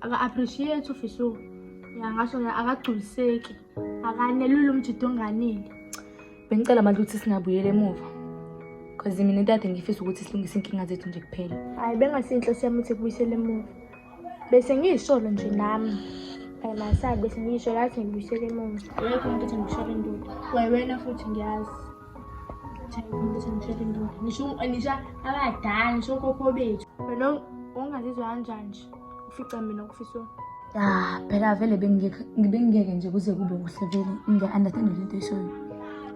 aka-appreciate ufisa yangasho akagculiseki akanelula umjida onganile bengicela manje ukuthi singabuyela emuva cause mina ntade ngifisa ukuthi silungise inkinga zethu nje kuphela hhayi bengasinhle siyami ukuthi kubuyisele emuva bese ngiyisholo nje nami hhayi masabi bese ngiyisholo athi ngibuyisele emuva yekho umuntu ethi ngisholo induku wena futhi ngiyazi ngisho abadala ngisho kokho bethu wena ongazizwa kanjani nje ufica mina kufiswa ya phela vele bengingeke nje kuze kube kuhle vele ngiya-understand le nto eshoyo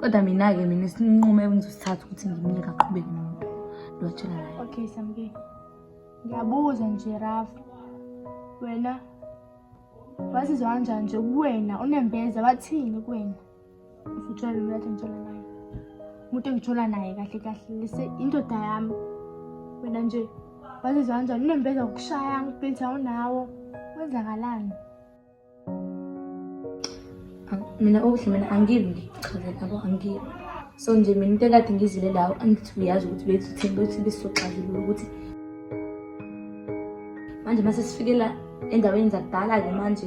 kodwa mina-ke mina sinqume engizosithatha ukuthi ngimile kaqhubeki nomuntu lowatshela naye okay samke ngiyabuza nje raf wena wazizwa kanjani nje kuwena unembeza bathini kuwena umuntu engithola naye kahle kahle lise indoda yami wena nje wazizwa kanjani unembeza ukushaya ngibhitha unawo kwenzakalani mina okuhle mina angilwi ngichazela yabo angilwi so nje mina into ekade ngizile lawo angithi uyazi ukuthi bethi bethi besizoxazulula ukuthi manje uma sesifike la endaweni zakudala-ke manje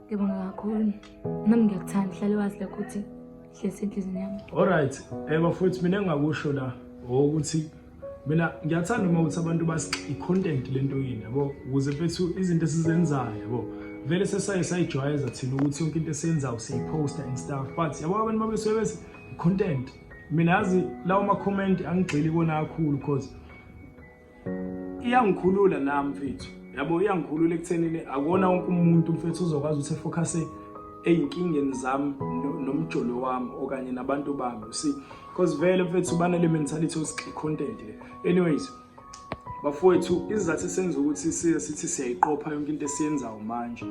Ngibonga kakhulu. Nami ngiyakuthanda hlale wazi lokho ukuthi hlezi enhlizini yami. Alright, eh bafowethu mina engakusho la ukuthi mina ngiyathanda uma ukuthi abantu basi i-content lento yini yabo ukuze mfethu izinto esizenzayo yabo vele sesaye sayijwayeza thina ukuthi yonke into esiyenzayo siyiposta and stuff but yabo abantu babesuke bese i-content mina yazi lawo ma-comment angigxili kona kakhulu because iyangikhulula nami mfethu yabo iyangikhulula ekuthenini akuwona wonke umuntu mfethu uzokwazi ukuthi efocuse ezinkingeni zami nomjolo wami okanye nabantu bami you see because vele mfethu banale mentality of content le anyways bafowethu izizathu esenza ukuthi siye sithi siyayiqopha yonke into esiyenzayo manje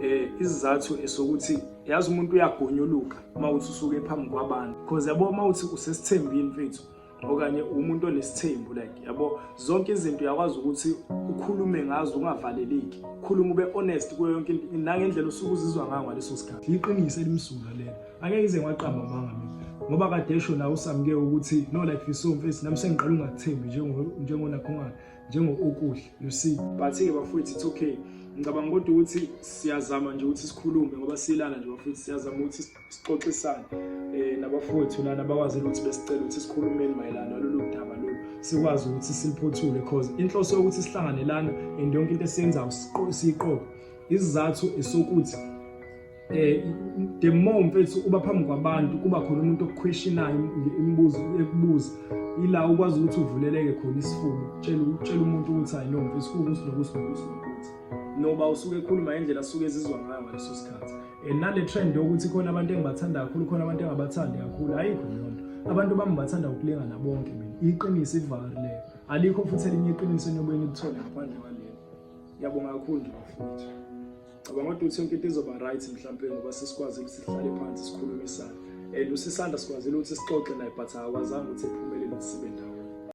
eh izizathu esokuthi yazi umuntu uyagonyuluka uma uthi usuke phambi kwabantu because yabo uma uthi usesithembini mfethu okanye umuntu onesithembu like yabo zonke izinto uyakwazi ukuthi ukhulume ngazo ungavaleleki khuluma ube honest kuyo yonke into nangendlela usuke uzizwa ngayo ngaleso sikhathi iqiniso elimsulwa lelo angeke ize ngwaqamba manga mina ngoba kade esho la usamke ukuthi no like you so mfethu nami sengiqala ungathembi njengo njengonakhongana njengo okuhle you see but ke bafowethu it's okay ngicabanga kodwa ukuthi siyazama nje ukuthi sikhulume ngoba silana nje bafowethu siyazama ukuthi sixoxisane eh nabafowethu lana bakwazile ukuthi besicela ukuthi sikhulumeni mayelana nalolu daba lolu sikwazi ukuthi siliphothule because inhloso yokuthi sihlangane lana and yonke into esiyenzayo siqoqe isizathu esokuthi eh the more mfethu uba phambi kwabantu kuba khona umuntu okuquestionayo imibuzo ekubuza ila ukwazi ukuthi uvuleleke khona isifuba utshela utshela umuntu ukuthi hayi no mfethu kukuthi nokuthi nokuthi noba usuke ekhuluma indlela asuke ezizwa ngayo ngaleso sikhathi Eh, nale trend yokuthi khona abantu engibathanda kakhulu khona abantu engabathandi kakhulu ayikho leyo nto abantu bami ngibathanda ukulingana bonke mina iqiniso ivari leyo alikho futhi elinye iqiniso eniyobuye nilithole ngaphandle kwalelo ngiyabonga kakhulu nje bafuthi cabanga ukuthi uthi yonke into izoba right mhlawumpe ngoba sesikwazile ukuthi sihlale phansi sikhulumisane and usisanda sikwazile ukuthi sixoxe naye but akwazanga ukuthi ephumelele sibe ndawo